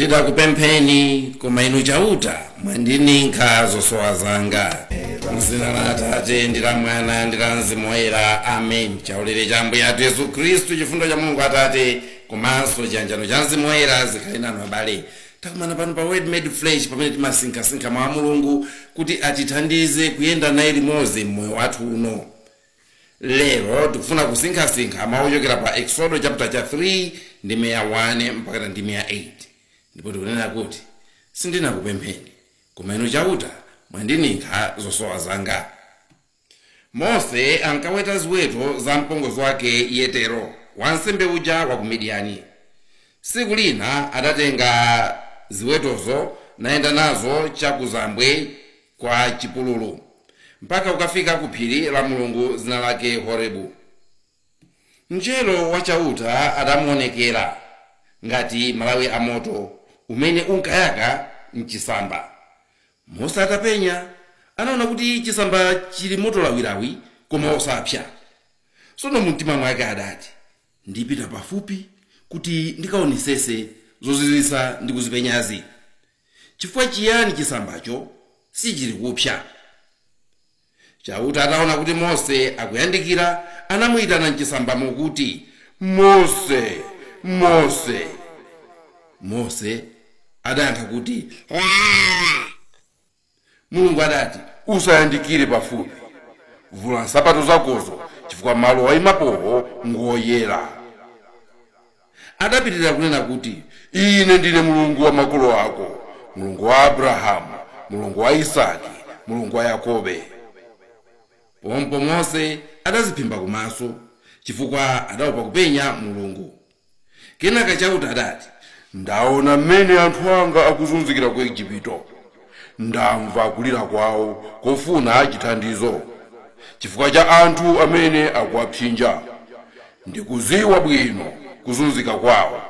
sindidakupempheni koma inu chauta mwandininkha zosowa zanga mzina la atate ndi la mwana ndi la mzimu woyera amen chaulere cha ambuye athu yesu khristu chifundo cha mulungu atate komanso chiyanjano cha mzimu woyera zikhale nanu abale takumana pano pa word made flesh pamene timasinkhasinkha mwa mulungu kuti atithandize kuyenda naye limodzi mmoyo wathu uno Lero tikufuna kusinkhasinkha mawu ochokera pa Eksodo chapter cha 3 ndime ya 1 mpakana ndime ya 8 ndipo tikunena kuti sindinakupempheni koma inu chauta mwandininkha zosowa zanga mose ankaweta ziweto za mpongozi wake yetero wansembe uja wa ku midiyani tsiku lina adatenga ziwetozo nayenda nazo chakuzambwe kwa chipululu, mpaka kukafika ku phiri la Mulungu dzina lake Horebu. Mngelo wa Chauta adamuwonekera ngati malawi a moto umene unkayaka m'chisamba. Mose atapenya, anaona kuti chisamba chili moto lawilawi, koma osapsa. Tsono mumtima mwake adati, Ndipita pafupi kuti ndikaonesese zozizwitsa ndikuzipenyazi. Chifukwa chiyani chisambacho sichilikupsa? Chauta ataona kuti Mose akuyandikira, anamuitana m'chisambamo kuti, Mose! Mose! Mose adayankha kuti, Ndilidi. mulungu adati usayandikire pafupi vula nsapato zakozo chifukwa malo waimapowo ngoyera adapitirira kunena kuti ine ndine mulungu wa makolo ako mulungu wa abrahamu mulungu wa isaki mulungu wa yakobe pompo mose adaziphimba kumaso chifukwa adaopa kupenya mulungu Kenaka Chauta adati, Ndaona m'mene anthu anga akuzunzikira ku Ejipito. Ndamva kulira kwao kofuna chithandizo, chifukwa cha anthu amene akuwapsinja. Ndikudziwa bwino kuzunzika kwao.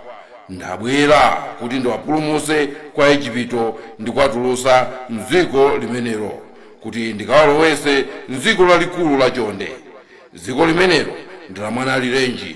Ndabwera kuti ndiwapulumutse kwa Aejipito ndi kuwatulutsa m'dziko limenelo, kuti ndikawalowetse m'dziko lalikulu lachonde. Dziko limenelo ndi lamwanaalirenji.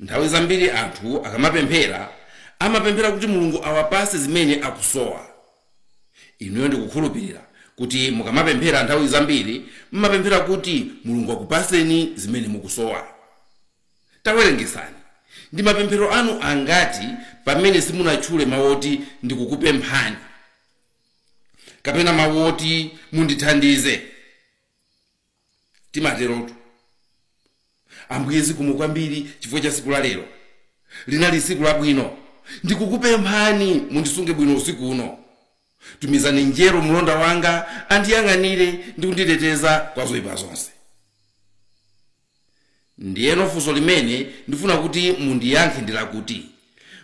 Nthawi zambiri anthu akamapemphera amapemphera kuti Mulungu awapatse zimene akusowa. Inuyo ndikukhulupirira kuti mukamapemphera nthawi zambiri m'mapemphera kuti Mulungu akupatseni zimene mukusowa. Tawerengetsani, ndi mapemphero anu angati pamene simunatchule mawu oti ndikukupemphani kapena mawu oti mundithandize? timaterotu ambuye zikomo kwambiri chifukwa cha siku la lero linali siku labwino ndikukupemphani mundisunge bwino usiku uno tumizani mngelo mlonda wanga andiyang'anire ndi kunditeteza kwa zoyipa zonse Ndiyeno funso limene ndifuna kuti mundiyankhe ndi lakuti,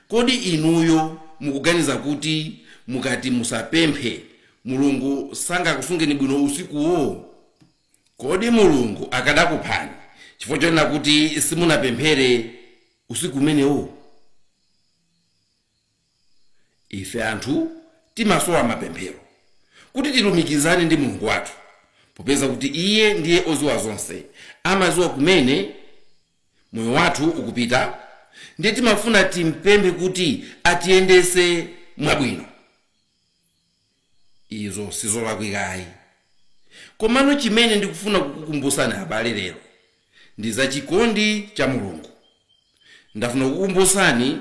Kodi inuyo mukuganiza kuti mukati musapemphe, Mulungu sangakusungeni bwino usikuwo? Kodi Mulungu akadakuphani chifukwa chonena kuti simunapemphere usiku umenewo? Ife anthu timasowa mapemphero kuti tilumikizane ndi Mulungu wathu popeza kuti iye ndiye oziwa zonse, amaziwa kumene moyo wathu ukupita ndiye timafuna timpemphe kuti atiyendese mwabwino. Izo sizolakwika ayi. Komano chimene ndikufuna kukukumbusani abale lero ndi za chikondi cha Mulungu. Ndafuna kukukumbusani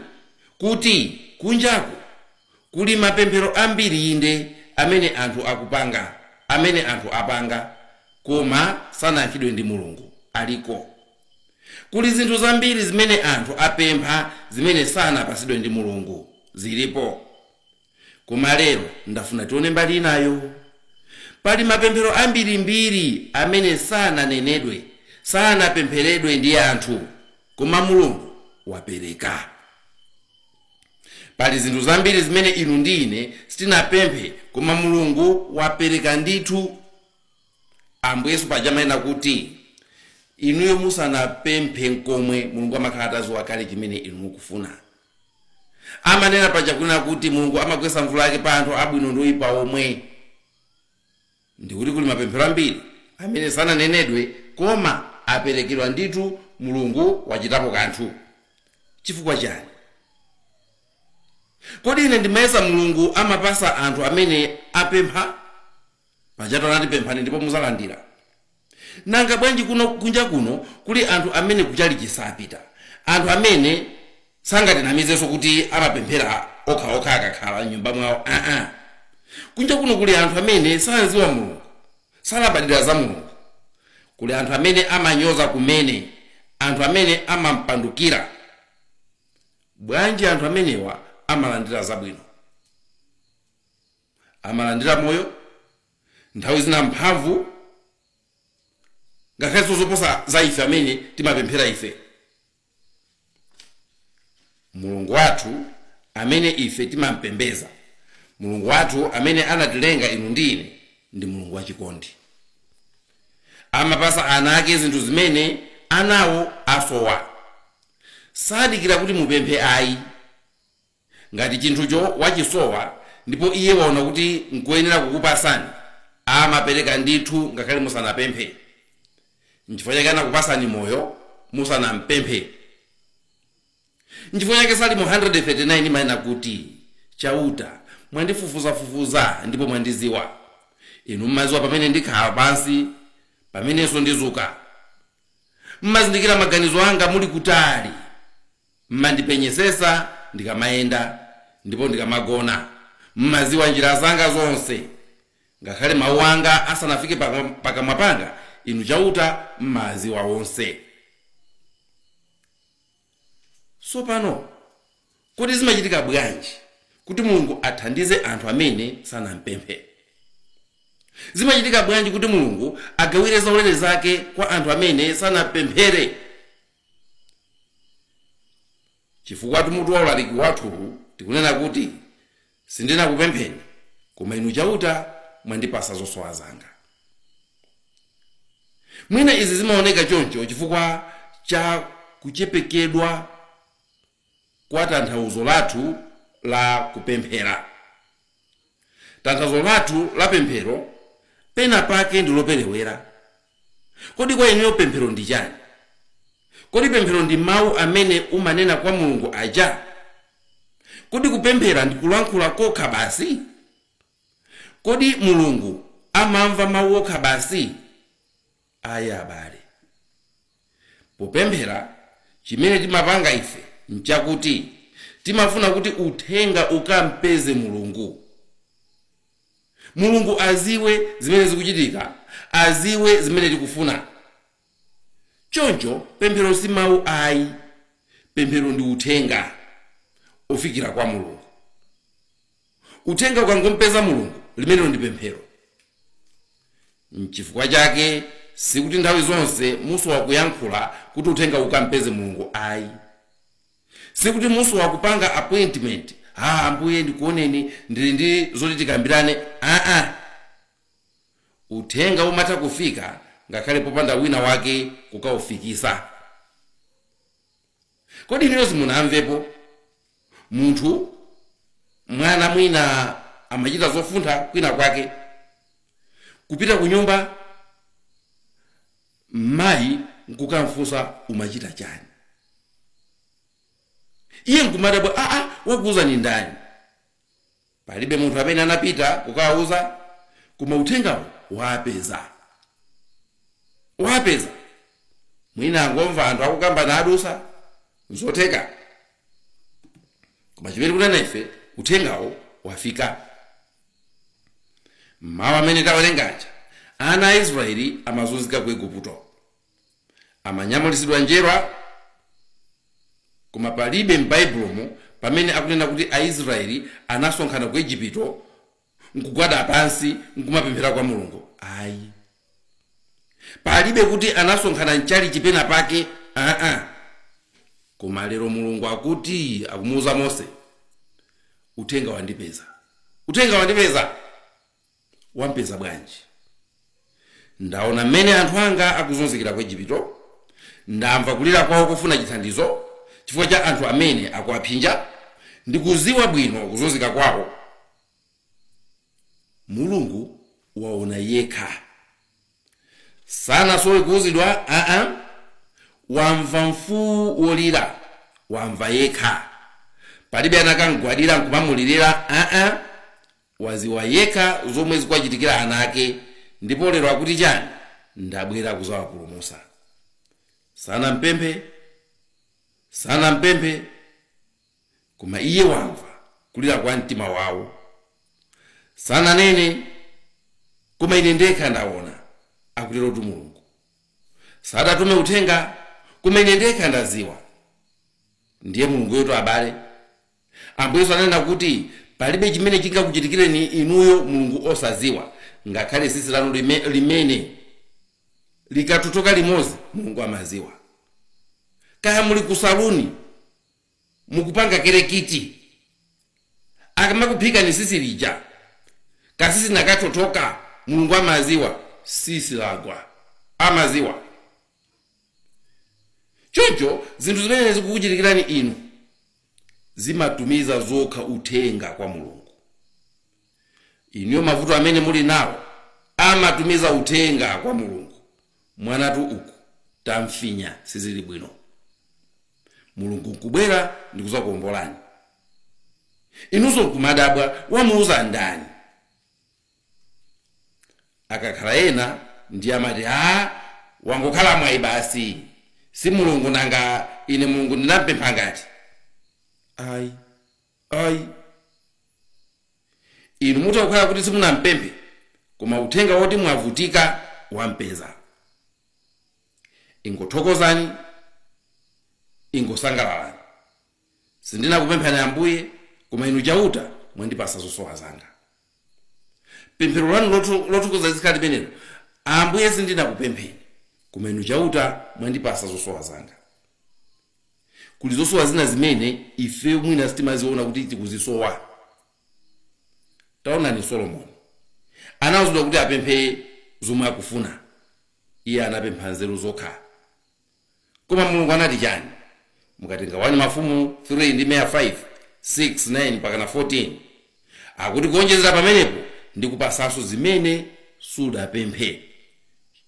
kuti kunjaku kuli mapemphero ambiri inde amene anthu akupanga amene anthu apanga koma sanayankhidwe ndi Mulungu. Aliko. Kuli zinthu zambiri zimene anthu apempha zimene sanapasidwe ndi Mulungu. Zilipo. Koma lero ndafuna tione mbali inayo. Pali mapemphero ambirimbiri amene sananenedwe, sanapempheredwe ndi anthu, koma Mulungu wapereka. Pali zinthu zambiri zimene inu ndi ine sitinapemphe, koma Mulungu wapereka ndithu. Ambuye Yesu paja amanena kuti inuyo musanapemphe nkomwe, Mulungu amakhala atadziwa kale chimene inu mukufuna. amanena paja kunena kuti Mulungu amagwetsa mvula yake pa anthu abwino ndi oyipa omwe, ndi kuti kuli mapemphero ambiri amene sananenedwe koma aperekedwa ndithu Mulungu wachitapo kanthu. Chifukwa chani? Kodi ine ndimayesa Mulungu amapasa anthu amene apempha? Pajatu anati pemphani ndipo muzalandira. Nanga bwanji kunja kuno kuli anthu amene kuchalichi sapita, anthu amene sangatinamizenso kuti amapemphera okha okha akakhala m'nyumba mwawo aa. Kunja kuno kuli anthu amene samziwa Mulungu, salabadira za Mulungu, kuli anthu amene amanyoza kumene, anthu amene amampandukira. Bwanji anthu amenewa amalandira zabwino? amalandira moyo nthawi zina mphamvu ngakhalenso zoposa za ife amene timapemphera ife mulungu wathu amene ife timampembeza mulungu wathu amene anatilenga inu ndi ine ndi mulungu wachikondi amapasa ana ake zinthu zimene anawo asowa sadikira kuti mupemphe ayi Ngati chinthucho wachisowa ndipo iye waona kuti n'koyenera kukupatsani, amapereka ndithu ngakhale musanapemphe. N'chifukwa chake anakupatsani moyo musanam'pemphe. N'chifukwa chake Salimo 139 imanena kuti, Chauta, mwandifufuzafufuza ndipo mwandidziwa. Inu mumadziwa pamene ndikhala pansi, pamenenso ndidzuka. Mumazindikira maganizo anga muli kutali. M'mandipenyetsetsa ndikamayenda, ndipo ndikamagona. M'madziwa njira zanga zonse. Ngakhale mawu anga asanafike pakamwa panga, Inu Chauta m'mawadziwa onse. Tsopano kodi zimachitika bwanji kuti Mulungu athandize anthu amene sanampemphere? Zimachitika bwanji kuti Mulungu agawire zaulere zake kwa anthu amene sanampemphere? Chifukwatu mutu wa ulaliki wathuwu tikunena kuti, Sindinakupempheni, koma Inu Chauta mwandipatsa zosowa zanga. Mwina izi zimaoneka choncho chifukwa cha kuchepekedwa kwa tanthauzo lathu la kupemphera. Tanthauzo lathu la pemphero pena pake ndi loperewera. Kodi kwa inuyo pemphero ndi chani? Kodi pemphero ndi mawu amene umanena kwa Mulungu aja? Kodi kupemphera ndi kulankhula kokha basi? Kodi Mulungu amamva mawu okha basi? Ayi, abale. Popemphera, chimene timapanga ife n'chakuti timafuna kuti uthenga ukam'peze Mulungu. Mulungu aziwe zimene zikuchitika, aziwe zimene tikufuna. Choncho, pemphero si mau ayi. Pemphero ndi uthenga ofikira kwa Mulungu. uthenga ukangompeza mulungu limenelo ndi pemphero mchifukwa chake sikuti nthawi zonse musowa kuyankhula kuti uthenga ukampeze mulungu ayi sikuti musowa kupanga appointment a ambuye ndikuoneni ndili ndi zoti tikambirane aa uthenga umatha kufika ngakhale popanda wina wake kukaufikisa Kodi inuyo simunamvepo munthu, mwana mwina amachita zopuntha kwina kwake, kupita kunyumba mayi nkukamfunsa umachita chani? Iye nkumadabwa, aa wakuuzani ndani? Palibe munthu amene anapita kukawauza, koma uthengawo waapeza. Waapeza. Mwina angomva anthu akukamba nkudutsa, nzotheka. Koma chimene tikunena ife, uthengawo wafika. Mmawu amene tawerengaja, ana a Israeli amazunzika ku Igupto. Amanyamulitsidwa njerwa, koma palibe m'Baibulomu pamene akunena kuti Aisrayeli anasonkhana ku Ejipito n'kugwada pansi n'kumapemphera kwa Mulungu ayi. Palibe kuti anasonkhana m'chalichi penapake aa. Koma lero Mulungu akuti akumuuza Mose, Uthenga wandipeza. Uthenga wandipeza! Wampeza bwanji? Ndaona mmene anthu anga akuzunzikira ku Ejipito. Ndamva kulira kwawo kufuna chithandizo chifukwa cha anthu amene akuwaphinja. Ndikudziwa bwino kuzunzika kwawo. Mulungu waona yekha. Sanasowe kuuzidwa aa. Wamva mfuwu wolira, wamva yekha. Palibe anakam'gwadira n'kumamulirira aa. Waziwa yekha zomwe zikuwachitikira ana ake ndipo lero akuti chani ndabwera kuzawapulumusa. Sanampemphe sanampemphe koma iye wamva kulira kwa mtima wawo. Sananene koma ine ndekha ndawona akuterotu Mulungu. Sadatume uthenga koma ine ndekha ndaziwa ndiye Mulungu wathu abale. Ambuye Yesu ananena kuti palibe chimene chingakuchitikireni inuyo Mulungu osadziwa, ngakhale tsitsi lanu lime, limene likathothoka limodzi Mulungu amadziwa. Kaya muli ku saluni mukupanga kerekiti, akamakuphikani tsitsi lija katsitsi nakathothoka Mulungu amadziwa tsitsi lagwa, amadziwa. choncho zinthu zimene zikukuchitikirani inu zimatumiza zokha uthenga kwa mulungu inuyo mavuto amene muli nawo amatumiza uthenga kwa mulungu mwanatu uku tamfinya sizili bwino mulungu nkubwera ndikuzakuombolani inunso nkumadabwa wamuuza ndani akakhala ena nde amati haa wangokhala mwayi basi si mulungu nanga ine mulungu ndinampempha ngati ayi ayi inu mutha kukhala kuti simunampemphe koma uthenga woti mwavutika wampeza ingothokozani ingosangalalani sindinakupemphani ambuye koma inu chauta mwandipasa zosowa zanga pemphero lanu lotu- lothokoza lizikhala limenelo ambuye sindinakupempheni koma inu chauta mwandipasa zosowa zanga kuli zosowa zina zimene ife mwina sitimaziona kuti tikuzisowa taonani solomoni anauzidwa kuti apemphe zomwe akufuna iye anapempha nzeru zokha Koma Mulungu anati chani? Mukatenga 1 Mafumu 3 ndime ya 5, 6, 9 mpakana 14 akuti kuonjezera pamenepo ndikupasanso zimene sudapemphe,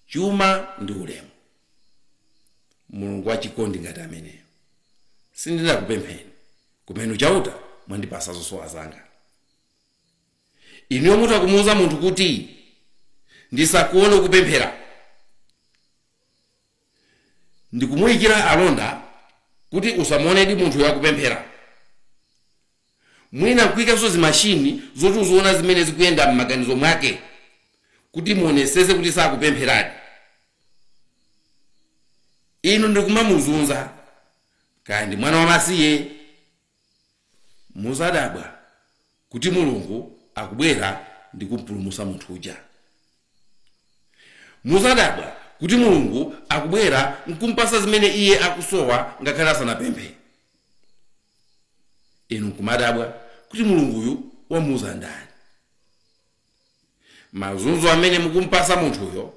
chuma ndi ulemu. Mulungu wachikondi ngati ameneyo sindinakupempheni, koma inu Chauta mwandipasa zosowa zanga. Inuyo mutha kumuuza munthu kuti ndisakuone kupemphera? Ndikumuyikira alonda kuti musamuonedi munthuyo akupemphera. Mwina nkuyikanso zimashini zoti ziziona zimene zikuyenda m'maganizo mwake kuti muonetsetse kuti sakupempheradi. Inu ndikumamuzunza. Kaya ndi mwana wamasiye. Muzadabwa kuti Mulungu akubwera ndi kumpulumusa munthu uja. Muzadabwa kuti Mulungu akubwera nkumpasa zimene iye akusowa ngakhale asanapemphe. Inu nkumadabwa kuti Mulungu uyu wamuuza ndani. Mazunzo amene mukumpasa munthuyo,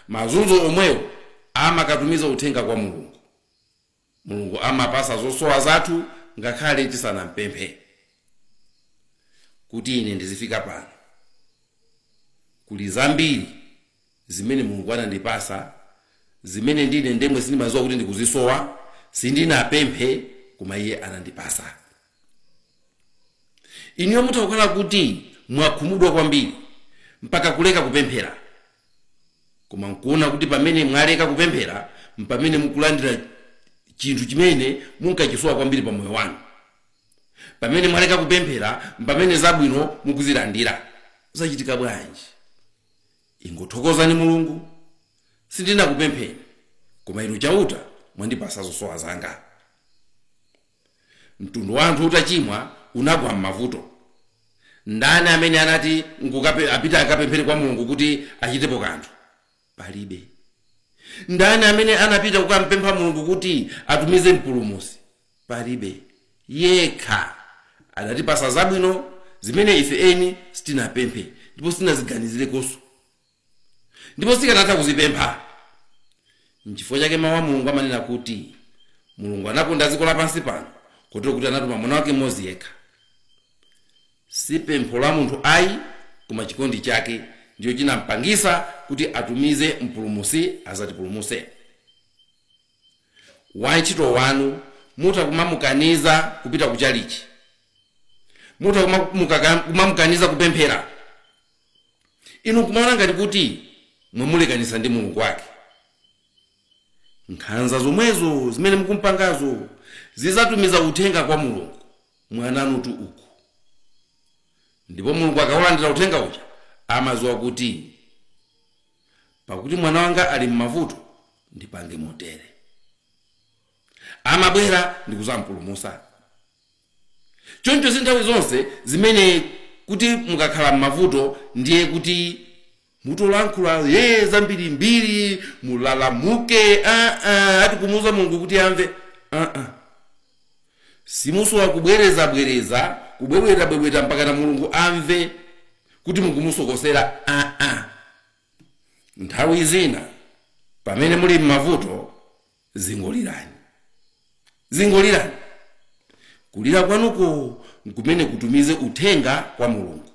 mazunzo omwewo amakatumiza uthenga kwa Mulungu. Mulungu amapasa zosowa zathu ngakhale tisanampemphe. Kuti ine ndizifika pano, kuli zambiri zimene Mulungu anandipasa zimene ndine ndemwe sindimaziwa kuti ndikuzisowa, sindinapemphe koma iye anandipasa. Inuyo mutha kukhala kuti mwakhumudwa kwambiri mpaka kuleka kupemphera. Koma n'kuona kuti pamene mwaleka kupemphera m'pamene mukulandira chinthu chimene munkachisowa kwambiri pa moyo wanu. Pamene mwaleka kupemphera m'pamene zabwino mukuzilandira. Zachitika bwanji? Ingothokozani Mulungu. Sindinakupempheni, koma Inu Chauta mwandipasa zosowa zanga. mtundu wa anthu utachimwa unagwa m'mavuto ndani amene anati akuka- apite akapemphere kwa mulungu kuti achitepo kanthu palibe ndani amene anapita kukampempha mulungu kuti atumize mpulumusi palibe yekha adatipasa zabwino zimene ife eni sitinapemphe ndipo sitinaziganizirekonso ndipo sitikanatha kuzipempha nchifukwa chake mawu a mulungu amanena kuti mulungu anakonda dziko lapansi pano kotero kuti anatuma mwana wake mmodzi yekha si pempho la munthu ayi koma chikondi chake ndicho chinampangisa kuti atumize mpulumusi azatipulumuse wantchito wanu mutha kumamukaniza kupita ku chalichi mutha kumamukaka- kumamukaniza kupemphera inu nkumaona ngati kuti mwamulekanitsa ndi mulungu wake nkhanza zomwezo zimene mukumpangazo zizatumiza uthenga kwa mulungu mwana wanutu uku ndipo mulungu akaulandira uthenga uja amaziwa kuti pakuti mwana wanga ali m'mavuto ndipange motere amabwera ndikuzampulumusa Choncho si nthawi zonse zimene kuti mukakhala m'mavuto ndiye kuti muzolankhula yee zambirimbiri, mulalamuka, aa, ati kumuuza Mulungu kuti amve. Aa, simusowa kubwerezabwereza, kubwebwetabwebweta mpakana Mulungu amve kuti mukumusokosera. Aa, nthawi zina pamene muli m'mavuto Zingolirani. Zingolirani. Kulira kwanuko nkumene kutumize uthenga kwa Mulungu.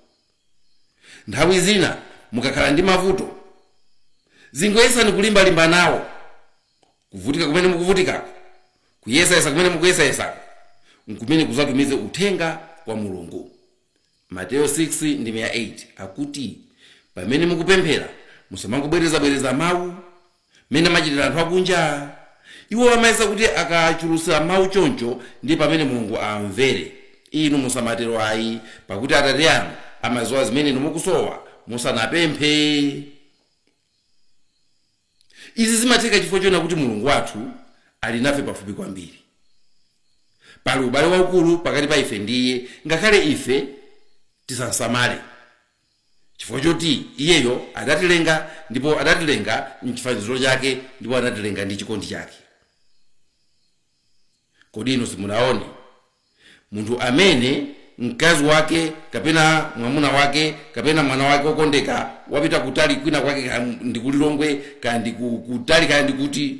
Nthawi zina mukakhala ndi mavuto, zingoyesani kulimbalimba nawo. Kuvutika kumene mukuvutikako, kuyesayesa kumene mukuyesayesako, nkumene kuzatumize uthenga kwa Mulungu. Mateyo 6 ndime ya 8 akuti, pamene mukupemphera musamangobwerezabwereza mawu Mmene amachitira anthu akunja. Iwo amayesa kuti akachulusa mau choncho ndiye pamene Mulungu amvere. Inu musamatero ayi, pakuti Atate anu amadziwa zimene inu mukusowa musanapemphe. Izi zimatheka chifukwa choona kuti Mulungu wathu ali nafe pafupi kwambiri. Pali ubale waukulu pakati pa ife ndi Iye ngakhale ife tisamsamale. Chifukwa choti iyeyo adatilenga ndipo adatilenga m'chifaniziro chake ndipo anatilenga ndi chikondi chake. Kodi inu simunaone munthu amene mkazi wake kapena mwamuna wake kapena mwana wake wokondeka wapita kutali kwina kwake kaya ndi ku Lilongwe kaya ndi ku kutali kaya ndi kuti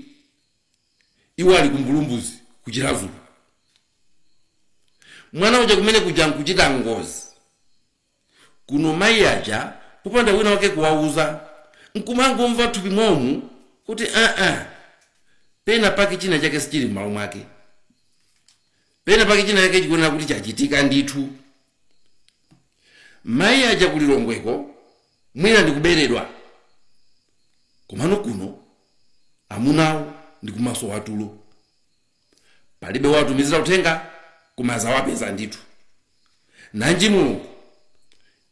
iwo ali ku Mbulumbuzi ku Chiradzulu. Mwana uja kumene kuja nkuchita ngozi. Kuno mayi aja popanda wina wake kuwauza nkumangomva m'thupi mwawomu kuti aa pena pake china chake sichili m'malo mwake, pena pake china chake chikuyenera kuti chachitika ndithu. Mayi aja ku Lilongweko mwina ndikuberedwa, komano kuno amunawo ndikumasowa tulo. palibe wawatumizira uthenga koma azawapeza ndithu nanji mulungu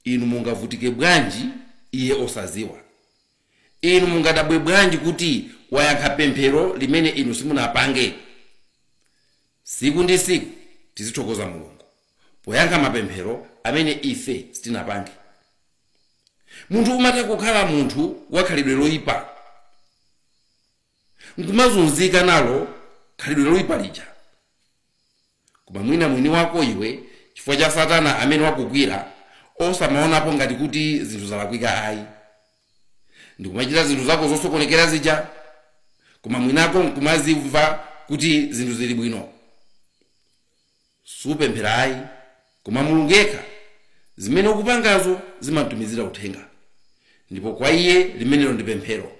inu mungavutike bwanji iye osaziwa inu mungadabwe bwanji kuti wayankha pemphero limene inu simunapange siku ndi siku tizithokoza mulungu poyankha mapemphero amene ife sitinapange munthu umatha kukhala munthu wakhalidwe loyipa nkumazunzika nalo khalidwe loipa lija koma mwina mwini wako iwe chifukwa cha satana amene wakugwira osamaonapo ngati kuti zinthu zalakwika ayi ndikumachita zinthu zako zosokonekera zija koma mwini wako nkumazimva kuti zinthu zili bwino Supemphera ayi, koma Mulungu yekha, zimene ukupangazo zimamtumizira uthenga, ndipo kwa Iye limenelo ndi pemphero,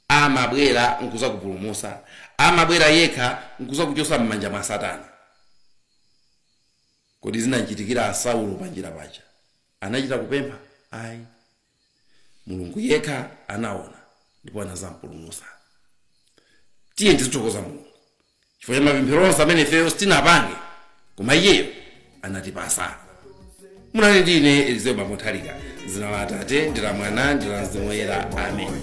amabwera nkuzakupulumutsa, amabwera yekha nkuzakuchotsa mmanja mwa satana. Kodi zinamchitikira Saulo panjira paja anachita kupempha? Ayi. mulungu yekha anaona ndipo anazampulumusa tiyeni tizithokoza mulungu chifukwa cha mapemphero onse amene ifeyo sitinapange koma iyeyo anatipasa munali ndi ine elizeo bamuthalika m'dzina la atate ndi la mwana ndi la mzimu woyera amen